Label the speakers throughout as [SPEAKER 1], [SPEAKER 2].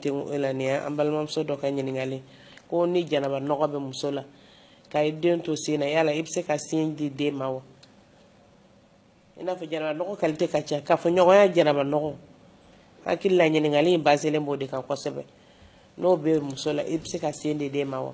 [SPEAKER 1] e la nin y'an balimamuso dɔ ka ɲininkali ko ni janaba nɔgɔ bɛ muso la ka i den to sin na yala i bɛ se ka sin di den ma wa i n'a fɔ janaba nɔgɔ kalite ka ca k'a fɔ ɲɔgɔnya janaba nɔgɔ hakili la ɲininkali in baselen b'o de kan kosɛbɛ n'o bɛ muso la i bɛ se ka sin di den ma wa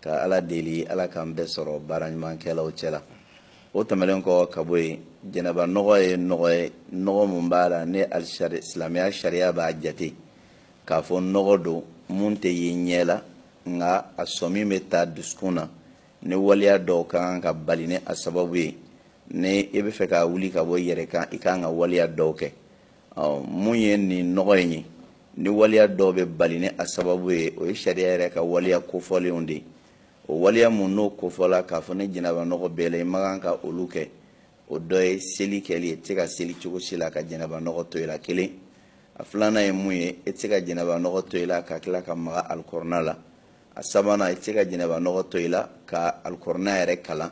[SPEAKER 2] ka ala deli ala k'an bɛɛ sɔrɔ baara ɲumankɛlaw cɛ la o tɛmɛlen kɔ ka bɔ yen janaba nɔgɔ ye nɔgɔ ye nɔgɔ min b'a la ni silamɛya sariya b'a jate k'a fɔ nɔgɔ don mun tɛ ye ɲɛ la nka a sɔmi bɛ taa dusukun na ni waleya dɔw ka kan ka bali ni a sababu ye ni i b'a fɛ k'a wuli ka bɔ i yɛrɛ kan i ka kan ka waleya dɔw kɛ mun ye nin nɔgɔ in ye ni waliya dɔw bɛ bali ni a sababu ye o ye sariya yɛrɛ ka waliya kofɔlenw de ye o waliya munnu kofɔla k'a fɔ ni janaba nɔgɔ b'i la i man kan ka olu kɛ o dɔ ye seli kɛli ye i tɛ se ka seli cogo si la ka janaba nɔgɔ to i la kelen a filanan ye mun ye e tɛ se ka janaba nɔgɔ to i la ka tila ka maga alikurana la a sabanan e tɛ se ka janaba nɔgɔ to i la ka alikurana yɛrɛ kalan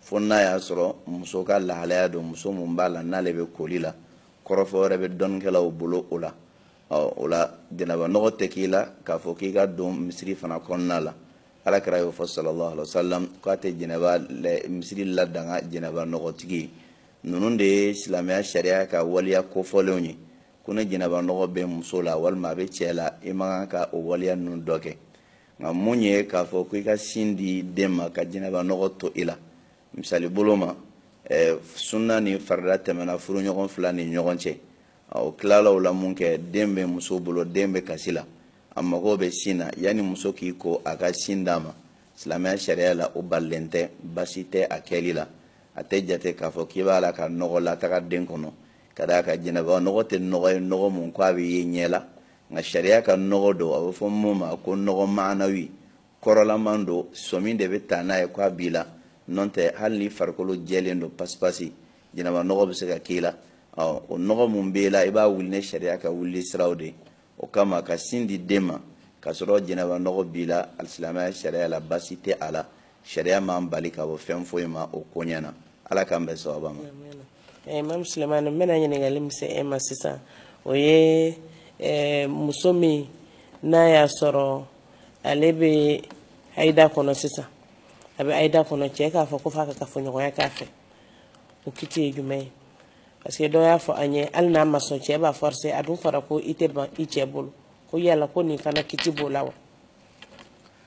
[SPEAKER 2] fo n'a y'a sɔrɔ muso ka lahalaya don muso mun b'a la n'ale bɛ koli la kɔrɔfɔ wɛrɛ bɛ dɔnnikɛlaw bolo o la o la janaba nɔgɔ tɛ k'i la k'a fɔ k'i ka don misiri fana kɔnɔna la ala kira y'o fɔ sallallahu alaihi wasallam k'a tɛ janaba misiri ladaga janaba nɔgɔtigi ye ninnu de ye silamɛya sariya ka waliya kofɔlenw ye ko ni janaba nɔgɔ bɛ muso la walima a bɛ cɛ la i man kan ka o waliya ninnu dɔ kɛ nka mun ye k'a fɔ ko i ka sin di den ma ka janaba nɔgɔ to i la misali bolo ma eh, sunna ni farida tɛmɛna furuɲɔgɔn fila ni ɲɔgɔn cɛ o tilala o la mun kɛ den bɛ muso bolo den bɛ kasi la a mago bɛ sin na yanni muso k'i ko a ka sin d'a ma silamɛya sariya la o balilen tɛ basi tɛ a kɛli la a tɛ jate k'a fɔ k'i b'a la ka nɔgɔ lataga den kɔnɔ ka d'a kan janaba nɔgɔ tɛ nɔgɔ ye nɔgɔ mun ko a bɛ ye ɲɛ la nka sariya ka nɔgɔ don a bɛ fɔ mun ma ko nɔgɔ maanawi kɔrɔlaman don sɔmi de bɛ taa n'a ye k'a b'i la n'o tɛ hali n'i farikolo jɛlen don pasipasi janaba nɔgɔ bɛ se ka k'i la ɔ o nɔgɔ min b'i la i b'a wuli ni sariya ka wuli siraw de o kama ka sin di den ma k'a sɔrɔ janaba nɔgɔ b'i la alisilamɛya sariya la basi tɛ a la sariya m'an bali ka bɔ fɛn foyi ma o koɲɛ na ala k'an bɛn sawaba ma
[SPEAKER 1] imamu sulemani n bɛna ɲininkali min se e ma sisan o ye eh, muso min n'a y'a sɔrɔ ale bɛ hayida kɔnɔ sisan a bɛ hayida kɔnɔ cɛ k'a fɔ ko f'a ka kafoɲɔgɔnya k'a fɛ o kiti ye jumɛn ye parce que dɔ y'a fɔ an ye hali n'a ma sɔn cɛ b'a forcer a dun fɔra ko i tɛ ban i cɛ bolo ko yala ko nin fana kiti b'o la wa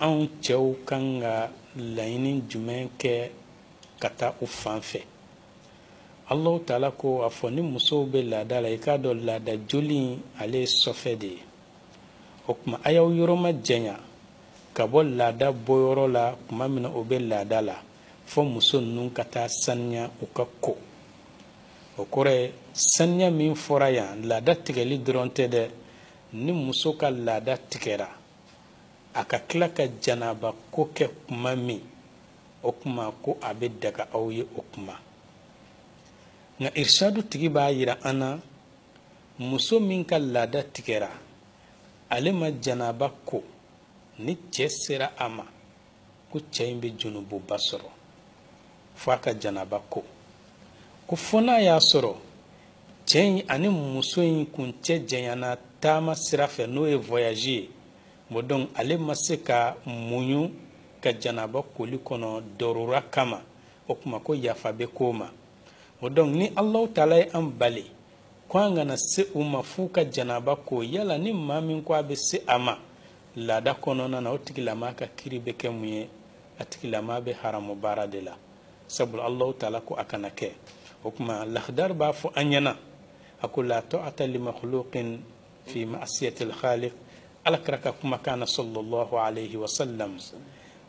[SPEAKER 3] anw cɛw kan ka laɲini jumɛn kɛ ka taa u fan fɛ allahu taala ko a fɔ ni musow bɛ laada la i k'a dɔn laada joli in ale ye sɔfɛ de ye o kuma a y'aw yɔrɔ ma janya ka bɔ laada bɔyɔrɔ la kuma min na o bɛ laada la fɔ muso ninnu ka taa saniya u ka ko o kɔrɔ ye saniya min fɔra yan laada tigɛli dɔrɔn tɛ dɛ ni muso ka laada tigɛra a ka tila ka janaba ko kɛ kuma min o kuma ko a bɛ daga aw ye o kuma nka irshadu tigi b'a yira an na muso min ka laada tigɛra ale ma janaba ko ni cɛ sera a ma ko cɛ in bɛ junububa sɔrɔ fo a ka janaba ko ko fo n'a y'a sɔrɔ cɛ in ani muso in kun cɛ janyana taama sira fɛ n'o ye voyage ye bon donc ale ma se ka muɲu ka janaba koli kɔnɔ dɔrura kama o kuma ko yafa bɛ k'o ma bon donc ni Allahu taala ye an bali ko an kana se u ma f'u ka janaba ko yala ni maa min ko a bɛ se a ma laada kɔnɔna na o tigilama ka kiri bɛ kɛ mun ye a tigilama bɛ haramu baara de la sabula allahu taala ko a kana kɛ o kuma lahdar b'a fɔ an ɲɛna a ko la ta'ata li makhluqin fi ma'siyati al-khaliq ala kira ka kumakan na sallallahu alayhi wa sallam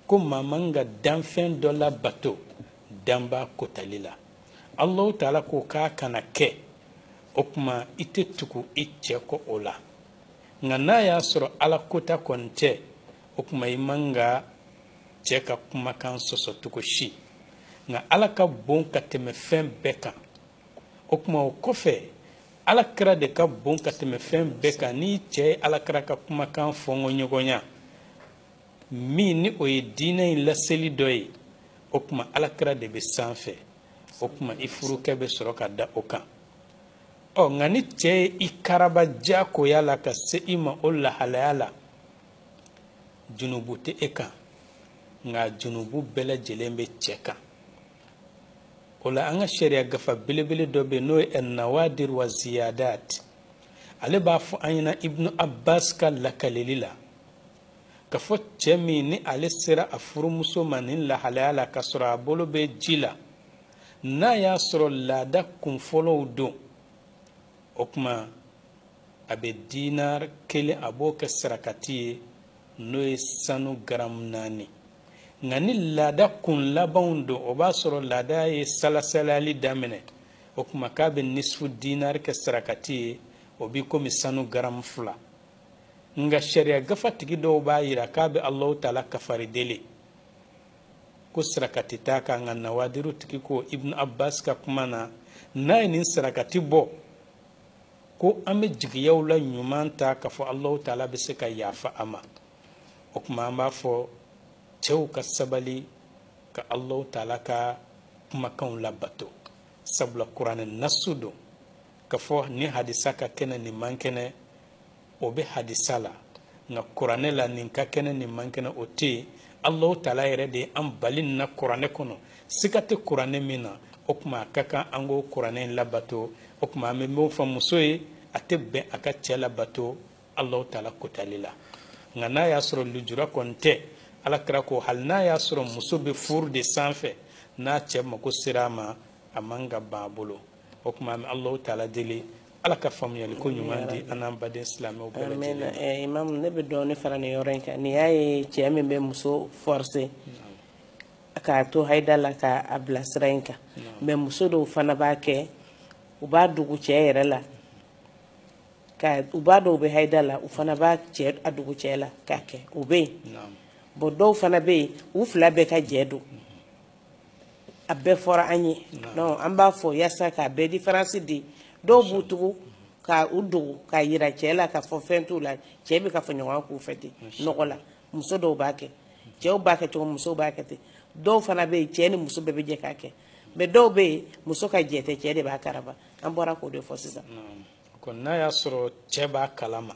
[SPEAKER 3] ko maa man ka danfɛn dɔ labato danba kotali la allahu taala ko k'a kana kɛ o kuma i tɛ tugu i cɛ kɔ o la nka n'a y'a sɔrɔ ala kota kɔni tɛ o kuma i man ka cɛ ka kumakan sɔsɔ cogo si nka ala ka bon ka tɛmɛ fɛn bɛɛ kan o kuma o kɔfɛ ala kira de ka bon ka tɛmɛ fɛn bɛɛ kan n'i cɛ ye ala kira ka kumakan fɔnkɔ ɲɔgɔnya min ni o ye diinɛ in laseli dɔ ye o kuma ala kira de bɛ sanfɛ o kuma i furukɛ bɛ sɔrɔ ka da o kan ɔ nka ni cɛ ye i karaba diyagoya la ka se i ma o lahalaya la junubu tɛ e kan nka junubu bɛɛ lajɛlen bɛ cɛ kan o la an ka sariya gafa belebele dɔ bɛ yen n'o ye nawadir wa ziyadat ale b'a fɔ an ɲɛna ibnu abbas ka lakaleli la k'a fɔ cɛ min ni ale sera a furumuso ma nin lahalaya la k'a sɔrɔ a bolo bɛ ji la n'a y'a sɔrɔ laada kunfɔlɔw don o kuma a bɛ dinar kelen a b'o kɛ sarakati ye n'o ye sanu garamu naani nka ni laada kun labanw don o b'a sɔrɔ laada ye salasalali daminɛ o kuma k'a bɛ nisifu dinar kɛ sarakati ye o b'i komi sanu garamu fila nka sariya gafatigi dɔw b'a yira k'a bɛ alahu taala kafari deli ko sarakati t'a kan nka nawadiru tigi ko ibnu abbas ka kuma na n'a ye nin sarakati bɔ ko an bɛ jigiyaw la ɲuman ta k'a fɔ alahu taala bɛ se ka yafa a ma o kuma an b'a fɔ cɛw ka sabali ka alahu taala ka kumakanw labato sabula kuranɛ nasu don k'a fɔ nin hadisa ka kɛnɛ nin man kɛnɛ o bɛ hadisa la nka kuranɛ la nin ka kɛnɛ nin man kɛnɛ o tɛ yen alahu taala yɛrɛ de ye an bali nin na kuranɛ kɔnɔ siga tɛ kuranɛ min na o kuma a ka kan an k'o kuranɛ in labato o kuma an bɛ min fɔ muso ye a tɛ bɛn a ka cɛ labato alahu taala kotali la nka n'a y'a sɔrɔ lujura kɔni tɛ ala kira ko hali n'a y'a sɔrɔ muso bɛ furu de sanfɛ n'a cɛ mako sera a ma a man ka ban a bolo o kuma an bɛ alahu taala deli ala ka faamuyali ko ɲuman di an n'an baden silamɛw bɛɛ lajɛlen eh, imam ne bɛ
[SPEAKER 1] dɔɔnin fara nin yɔrɔ in kan n'i y'a ye cɛ min bɛ muso forcer k'a to hayida la k'a bila sira in kan mais muso dɔw fana b'a kɛ u b'a dogo cɛ yɛrɛ la ka u b'a dɔw bɛ hayida la u fana b'a cɛ a dogo cɛ la k'a kɛ o bɛ yen bon dɔw fana bɛ yen u fila bɛɛ ka jɛ don a bɛɛ fɔra an ye donc an b'a fɔ yaasa k'a bɛɛ différence di dɔw b'u tugu ka u dogo k'a yira cɛɛ la k'a fɔ fɛn t'u la cɛɛ bɛ kafoɲɔgɔnya k'u fɛ ten nɔgɔ la muso dɔw b'a kɛ cɛɛw b'a kɛ cogo musow b'a kɛ ten dɔw fana bɛ yen cɛɛ ni muso bɛɛ bɛ jɛ k'a kɛ mais dɔw bɛ yen muso ka jɛ tɛ cɛɛ de b'a karaba an bɔra k'o de fɔ sisan ko n'a
[SPEAKER 3] y'a sɔrɔ cɛɛ b'a kalama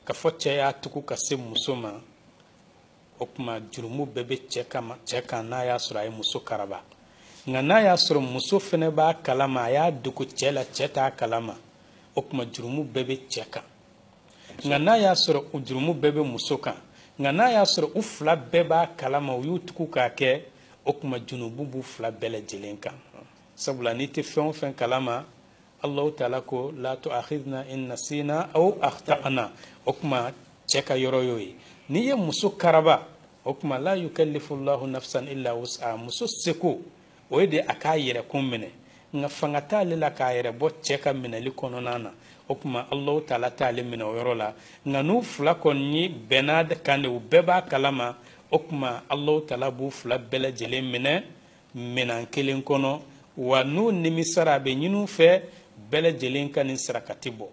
[SPEAKER 3] k'a fɔ cɛɛ y'a tugu ka se muso ma o kuma jurumu bɛɛ bɛ cɛ kan n'a y'a sɔrɔ a ye muso karaba nka n'a y'a sɔrɔ muso fana b'a kalama a y'a dogo cɛ la cɛ t'a kalama o kuma jurumu bɛɛ bɛ cɛ kan nka n'a y'a sɔrɔ u jurumu bɛɛ bɛ muso kan nka n'a y'a sɔrɔ u fila bɛɛ b'a kalama u y'u tugu k'a kɛ o kuma junubu b'u fila bɛɛ lajɛlen kan sabula n'i tɛ fɛn o fɛn kalama allahu taala ko la tuakhidna in nasina aw akhtana o kuma cɛ ka yɔrɔ y'o ye n'i ye muso karaba o kuma la yukallifu llahu nafsan illa wus'a muso seko o ye de a k'a yɛrɛ kun minɛ nka fanga t'ale la k'a yɛrɛ bɔ cɛ ka minɛli kɔnɔna na o kuma allahu taala t'ale minɛ o yɔrɔ la nka n'u fila kɔni bɛnn'a kan de u bɛɛ b'a kalama o kuma allahu taala b'u fila bɛɛ lajɛlen minɛ minɛn kelen kɔnɔ wa n'u nimisara a bɛ ɲin'u fɛ bɛɛ lajɛlen ka nin sarakati bɔ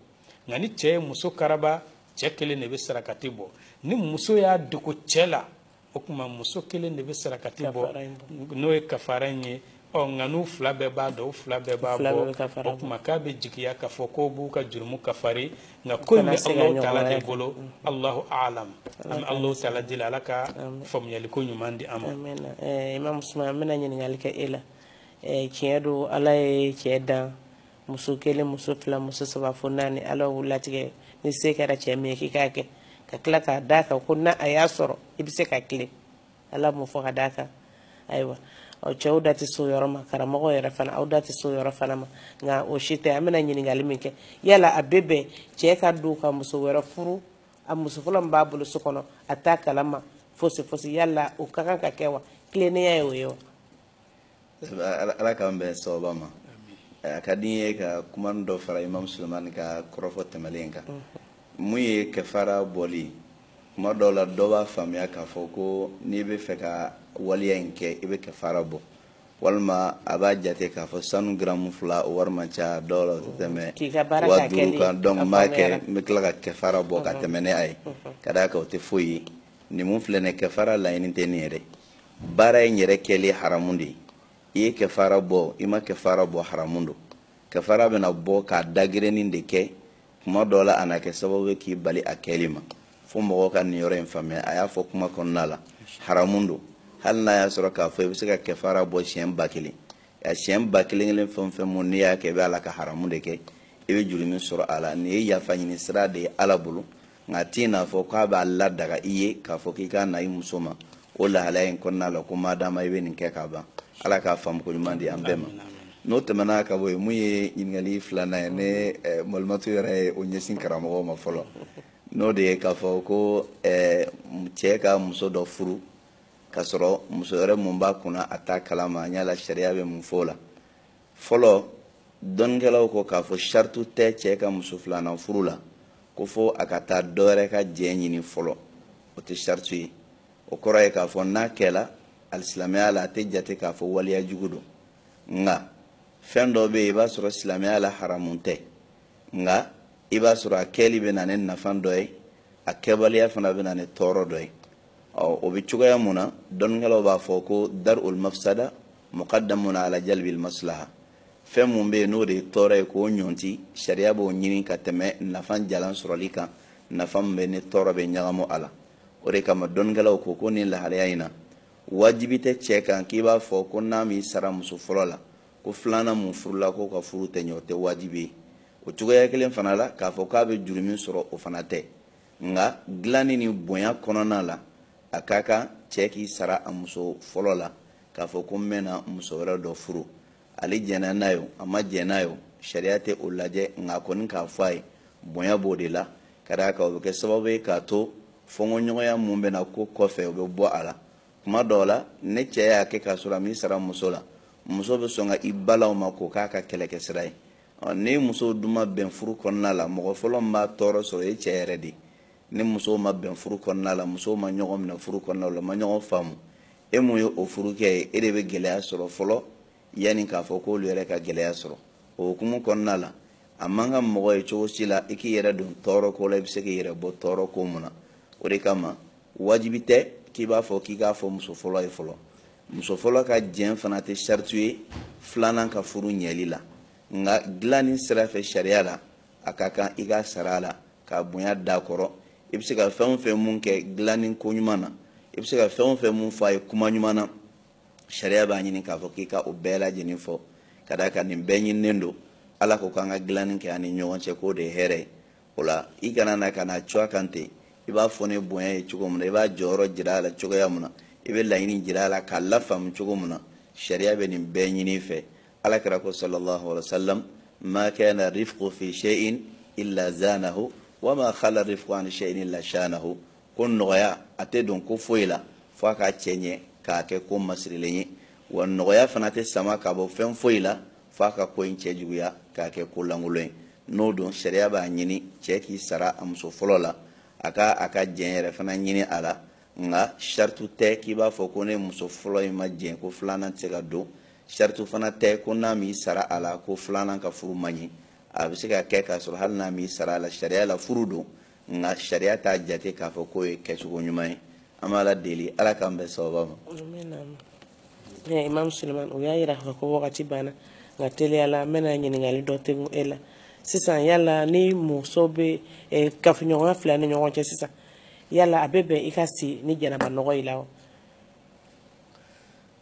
[SPEAKER 3] nka ni cɛ ye muso karaba cɛ kelen de bɛ sarakati bɔ ni muso y'a dogo cɛ la o kuma muso kelen de bɛ sarakati bɔ n'o ye kafara in ye ɔ nka n'u fila bɛɛ b'a dɔn u fila bɛɛ b'a bɔ o kuma k'a bɛ jigiya k'a fɔ k'o b'u ka jurumu kafari nka ko in bɛ Alahu taala de bolo Alahu alam an bɛ Alahu taala deli Ala ka faamuyaliko ɲuman di an ma. Amina ɛɛ Imam Usman
[SPEAKER 1] n bɛna ɲininkali kɛ e la ɛɛ tiɲɛ don Ala ye cɛ dan muso kelen muso fila muso saba fo naani Ala y'u latigɛ ni se kɛra cɛ min ye k'i k'a kɛ ka tila k'a d'a kan ko n'a a y'a sɔrɔ i bɛ se ka tilen ala m'o fɔ ka d'a kan ayiwa ɔ cɛw da tɛ s'o yɔrɔ ma karamɔgɔ yɛrɛ fana aw da tɛ s'o yɔrɔ fana ma nka o si tɛ an bɛna ɲininkali min kɛ yala a bɛ bɛn cɛ ka dogo ka muso wɛrɛ furu a muso fɔlɔ min b'a bolo so kɔnɔ a t'a kalama fosi fosi yala o ka kan ka kɛ wa tilennenya ye o ye wa
[SPEAKER 2] ala k'an bɛn sawaba ma a ka di n ye ka kuma dɔ fara imam sulemani ka kɔrɔfɔ tɛmɛlen kan mun ye kɛfara bɔli kuma dɔw la dɔ b'a faamuya k'a fɔ ko n'i bɛ fɛ ka waleya in kɛ i bɛ kɛfara bɔ walima a b'a jate k'a fɔ sanu garamu fila o wari man ca dɔw la o tɛ tɛmɛ wa duuru kan donc n b'a kɛ n bɛ tila ka kɛfara bɔ ka tɛmɛ ni a ye ka d'a kan o tɛ foyi ye nin mun filɛ nin ye kɛfara laɲini tɛ nin ye dɛ baara in yɛrɛ kɛli haramu de ye i ye kɛfara bɔ i ma kɛfara bɔ haramu don kɛfara bɛna bɔ k'a dagirinni de kɛ kuma dɔ la a na kɛ sababu ye k'i bali a kɛli ma fo mɔgɔ ka nin yɔrɔ in faamuya a y'a fɔ kuma kɔnɔna la haramu don hali n'a y'a sɔrɔ k'a fɔ i bɛ se ka kɛfara bɔ siɲɛ ba kelen a siɲɛ ba kelen kelen fɛn o fɛn mun n'i y'a kɛ i bɛ ala ka haramu de kɛ i bɛ jurumu sɔrɔ a la nin ye yafa ɲini sira de ye ala bolo nk'a t'i n'a fɔ k'a b'a ladaga i ye k'a fɔ k'i ka na i muso ma o lahalaya in kɔnɔna la ko maadama i bɛ nin kɛ k'a ban ala k'a faamuko ɲuman di an bɛɛ ma n'o tɛmɛna ka bɔ yen mun ye ɲininkali filanan ye ni eh, malimatu yɛrɛ ye o ɲɛsin karamɔgɔw ma fɔlɔ n'o de ye k'a fɔ ko eh, cɛ ka muso dɔ furu ka sɔrɔ muso wɛrɛ mun b'a kunna a t'a kalama an yala sariya bɛ mun fɔ o la fɔlɔ dɔnnikɛlaw ko k'a fɔ saritu tɛ cɛ ka muso filanan furu la ko fo a ka taa dɔwɛrɛ ka jɛn ɲini fɔlɔ o tɛ saritu ye o kɔrɔ ye k'a fɔ n'a kɛla alisilamɛya la a tɛ jate k'a fɔ waleya jugu don nka fɛn dɔ bɛ yen i b'a sɔrɔ silamɛya la haramu tɛ nka i b'a sɔrɔ a kɛli bɛ na ni nafa dɔ ye a kɛbaliya fana bɛ na ni tɔɔrɔ dɔ ye ɔ o bɛ cogoya mun na dɔnnikɛlaw b'a fɔ ko dar'ul mafsada muqaddamun ala jalbil maslaha fɛn mun bɛ yen n'o de ye tɔɔrɔ ye k'o ɲɔnti sariya b'o ɲini ka tɛmɛ nafa jalan sɔrɔli kan nafa min bɛ ni tɔɔrɔ bɛ ɲagami a la o de kama dɔnnikɛlaw ko ko nin lahalaya in na wajibi tɛ cɛ kan k'i b'a fɔ ko n'a m'i sara muso fɔlɔ la ko filanan mun furula k'o ka furu tɛ ɲɛ o tɛ wajibi ye o cogoya kelen fana la k'a fɔ k'a bɛ jurumu sɔrɔ o fana tɛ nka dilanni ni bonya kɔnɔna la a ka kan cɛ k'i sara a muso fɔlɔ la k'a fɔ ko n bɛna muso wɛrɛ dɔ furu ale jɛnna n'a ye o a ma jɛn n'a ye o sariya tɛ o lajɛ nka a kɔni k'a fɔ a ye bonya b'o de la ka d'a kan o bɛ kɛ sababu ye k'a to fɔnkɔɲɔgɔnya mun bɛ na ko kɔfɛ o bɛ bɔ a la tuma dɔw la ni cɛ y'a kɛ k'a sɔrɔ a m'i sara muso la muso bɛ sɔn ka i balan o ma k'o k'a ka kɛlɛkɛsira ye ni musow dun ma bɛn furu kɔnɔna la mɔgɔ fɔlɔ min b'a tɔɔrɔ sɔrɔ o ye cɛ yɛrɛ de ye ni musow ma bɛn furu kɔnɔna la musow ma ɲɔgɔn minɛ furu kɔnɔna la ma ɲɔgɔn faamu e mun ye o furukɛ ye e de bɛ gɛlɛya sɔrɔ fɔlɔ yanni k'a fɔ k'olu yɛrɛ ka gɛlɛya sɔrɔ o hukumu kɔnɔna la a man kan mɔgɔ ye cogo si la i k'i yɛrɛ don tɔɔrɔ ko la i bɛ se k'i yɛrɛ bɔ tɔɔrɔ ko mun na o de kama wajibi tɛ k'i b'a fɔ k'i k'a fɔ muso fɔlɔ ye fɔlɔ muso fɔlɔ ka jɛn fana tɛ saritu ye filanan ka furu ɲɛli la nka dilanni sira fɛ sariya la a ka kan i k'i sara a la ka bonya d'a kɔrɔ i bɛ se ka fɛn o fɛn mun kɛ dilanni ko ɲuman na i bɛ se ka fɛn o fɛn mun fɔ a ye kuma ɲuman na sariya b'a ɲini k'a fɔ k'i ka o bɛɛ lajɛlen fɔ ka d'a kan nin bɛɛ ɲininen don ala ko k'an ka dilanni kɛ an ni ɲɔgɔn cɛ k'o de ye hɛrɛ ye o la i kana na ka na cun a kan ten i b'a fɔ ni bonya ye cogo min na i b'a jɔyɔrɔ jira a la cogoya min na i bɛ laɲini jira a la k'a lafaamu cogo min na sariya bɛ nin bɛɛ ɲini i fɛ ala kira ko sallallahu alaihi wa sallam ma kana rifqu fi shay'in illa zanahu wa ma khala rifqu an shay'in illa shanahu ko nɔgɔya a tɛ don ko foyi la fo a k'a cɛɲɛ k'a kɛ ko masirilen ye wa nɔgɔya fana tɛ sama ka bɔ fɛn foyi la fo a ka ko in cɛjuguya k'a kɛ ko lankolon ye n'o don sariya b'a ɲini cɛ k'i sara a muso fɔlɔ la a ka a ka jɛn yɛrɛ fana ɲini a la nka saritu tɛ k'i b'a fɔ ko ni muso fɔlɔ in ma jɛn ko filanan tɛ se ka don saritu fana tɛ ko n'a m'i sara a la ko filanan ka furu man ɲi a bɛ se ka kɛ k'a sɔrɔ hali n'a m'i sara a la sariya la furu don nka sariya t'a jate k'a fɔ k'o ye kɛcogo ɲuman ye an b'ala deli ala k'an bɛn sawaba ma eh,
[SPEAKER 1] imam suleman u y'a yira k'a fɔ ko wagati banna nka teliya la n bɛna ɲininkali dɔ tegu e la sisan yala ni muso bɛ eh, kafoɲɔgɔnya fila ni ɲɔgɔn cɛ sisan yala a bɛ bɛn i ka si ni janaba nɔgɔ i la wa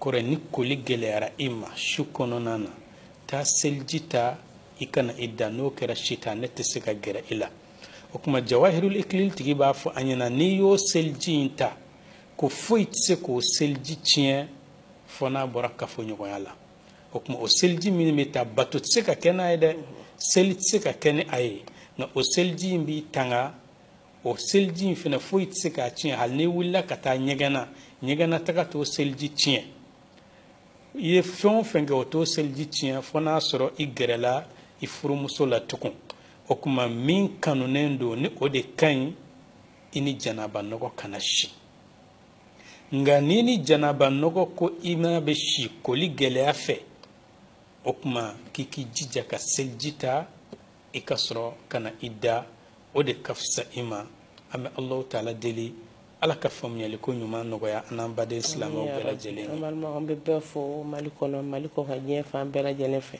[SPEAKER 3] kɔrɔ ni koli gɛlɛyara i ma su kɔnɔna na taa seliji ta i ka na i da n'o kɛra sitanɛ tɛ se ka gɛrɛ i la o kuma jawahirul ikilil tigi b'a fɔ an ɲɛna n'i y'o seliji in ta ko foyi tɛ se k'o seliji tiɲɛ fɔ n'a bɔra kafoɲɔgɔnya la o kuma o seliji min bɛ taa bato tɛ se ka kɛ n'a ye dɛ seli tɛ se ka kɛ ni a ye nka o seliji in b'i tanga o seliji in fana foyi tɛ se k'a tiɲɛ hali n'i wulila ka taa ɲɛgɛn na ɲɛgɛn na taga t'o seliji tiɲɛ i ye fɛn o fɛn kɛ o t'o seliji tiɲɛ fo n'a sɔrɔ i gɛrɛla i furumuso la tugun o kuma min kanunen don ni o de ka ɲi i ni janaba nɔgɔ kana si nka n'i ni janaba nɔgɔ ko i n'a bɛ si koli gɛlɛya fɛ o kuma k'i k'i jija ka seliji ta i ka sɔrɔ ka na i da o de ka fisa i ma an bɛ Alahu taala deli Ala ka faamuyali ko ɲuman nɔgɔya an n'an baden silamɛw bɛɛ lajɛlen ye. An bɛ bɛɛ
[SPEAKER 1] fo Mali kɔnɔ Mali kɔkan diɲɛ fan bɛɛ lajɛlen fɛ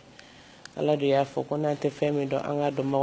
[SPEAKER 1] Ala de y'a fɔ ko n'an tɛ fɛn min dɔn an k'a dɔn